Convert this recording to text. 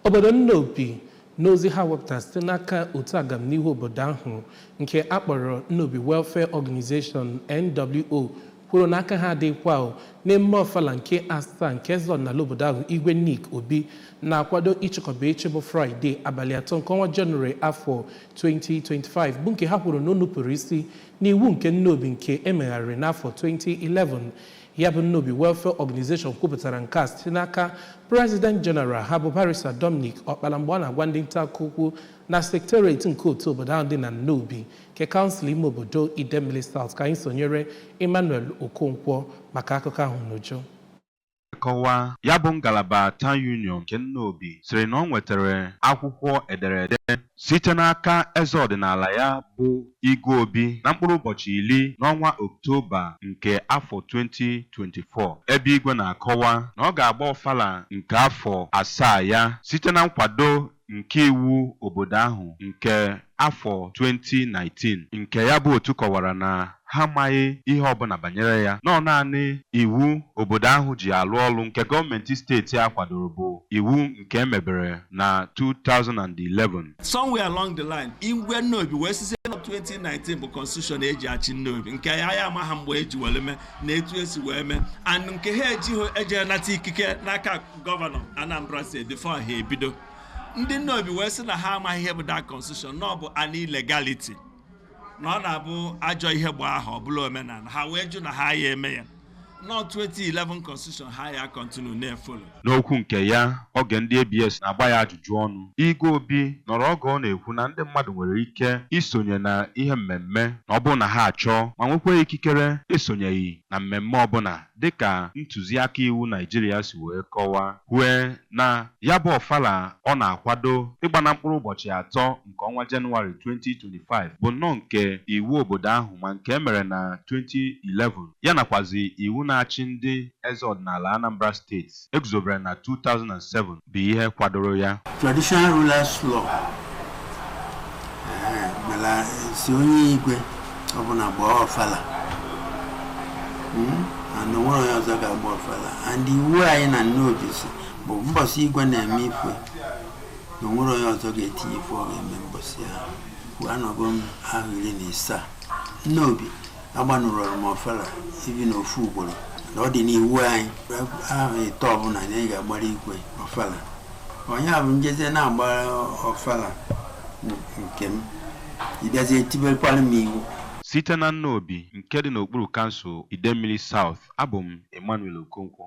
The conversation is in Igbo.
Obodo Nnobi n'ozi ha wepụtara site n'aka otu agamnihu obodo ahụ nke a kpọrọ Nnobi Welfare Organization NWO kwuru na aka ha adịghịkwa n'emume ọfala nke asaa nke eze ọdịnala obodo ahụ Igwe Nick Obi na-akwado ịchịkọba echi bụ Fraịde abalị atọ nke ọnwa Jenụwarị afọ 2025 bụ nke ha kwuru na o nupụrụ isi n'iwu nke Nnobi nke e megharịrị n'afọ 2011 Ya bụ Nnobi Welfare Organization kwupụtara nke a site n'aka President General ha bụ Barrister Dominic Ọkpala mgbe ọ na-agwa ndị nta akụkọ okwu na Secretariat nke otu obodo ahụ dị na Nnobi nke kansụl ime obodo Idemili South ka anyị sonyere Emmanuel Okonkwo maka akụkọ ahụ n'uju. Nkọwa ya bụ ngalaba Town Union nke Nnobi sịrị na ọ nwetara akwụkwọ ederede site n'aka eze ọdịnala ya bụ Igwe Obi na mkpụrụ ụbọchị iri n'ọnwa Oktoba nke afọ 2024, ebe Igwe na-akọwa na ọ ga-agba ọfala nke afọ asaa ya site na nkwado nke iwu obodo ahụ nke afọ 2019, nke ya bụ otu kọwara na ha amaghị ihe ọbụla banyere ya, na ọ naanị iwu obodo ahụ ji alụ ọlụ nke gọọmenti steeti a kwadoro bụ iwu nke e mebere na 2011. somewhere along the line Igwe Nnobi wee sịzie na 2019 bụ constitution e ji achị Nnobi nke ya ya amaha mgbe e ji were mee na etu e si wee mee and nke ha ejighị eje nata ikike n'aka gọvanọ Anambra steeti before ha ebido ndị Nnobi wee sị na ha amaghị ihe bụ that constitution na ọ bụ an illegality na ọ na-abụ ajọ ihe gbaa ahọ ọ bụrụ omenala ha wee jụ na ha ya eme ya na 2011 constitution ha ya continue na-efolo N'okwu nke ya oge ndị ABS na-agba ya ajụjụ ọnụ, Igwe Obi nọrọ oge ọ na-ekwu na ndị mmadụ nwere ike isonye na ihe mmemme na ọ bụrụ na ha achọọ ma nwekwa ikikere esonyeghị na mmemme ọbụla dịka ntụziaka iwu Naijiria si wee kọwaa kwue na ya bụ ọfala ọ na-akwado ịgba na mkpụrụ ụbọchị atọ nke ọnwa Janụwarị 2025 bụ nnọọ nke iwu obodo ahụ ma nke e mere na 2011 ya nakwazi iwu na-achị ndị eze ọdịnala Anambra steeti e guzobere na 2007 bụ ihe kwadoro ya. Traditional Rulers Law ee, mela sị onye igwe ọbụla gbaa ọfala Mm, and o nwere onye ọzọ ga-agba ọfala and iwu anyị na Nnobi sị bụ mbọsị igwe na-eme ife na o nwere onye ọzọ ga-etinye ife ọ ga-eme mbọsị ahụ well anọgo m ahọ iri na isaa Nnobi agbanụrọrụ m ọfala even ofu ugboro na ọ dị n'iwu anyị ahọ ịtọ ọbụla na anyị ga-agbara igwe ọfala ọ nya bụ m jezie na-agbara ọfala nke m ị bịazie tibekwara m iwu site na Nnobi nke dị n'okpuru kansụl Idemmiri South abụ m Emmanuel Okonkwo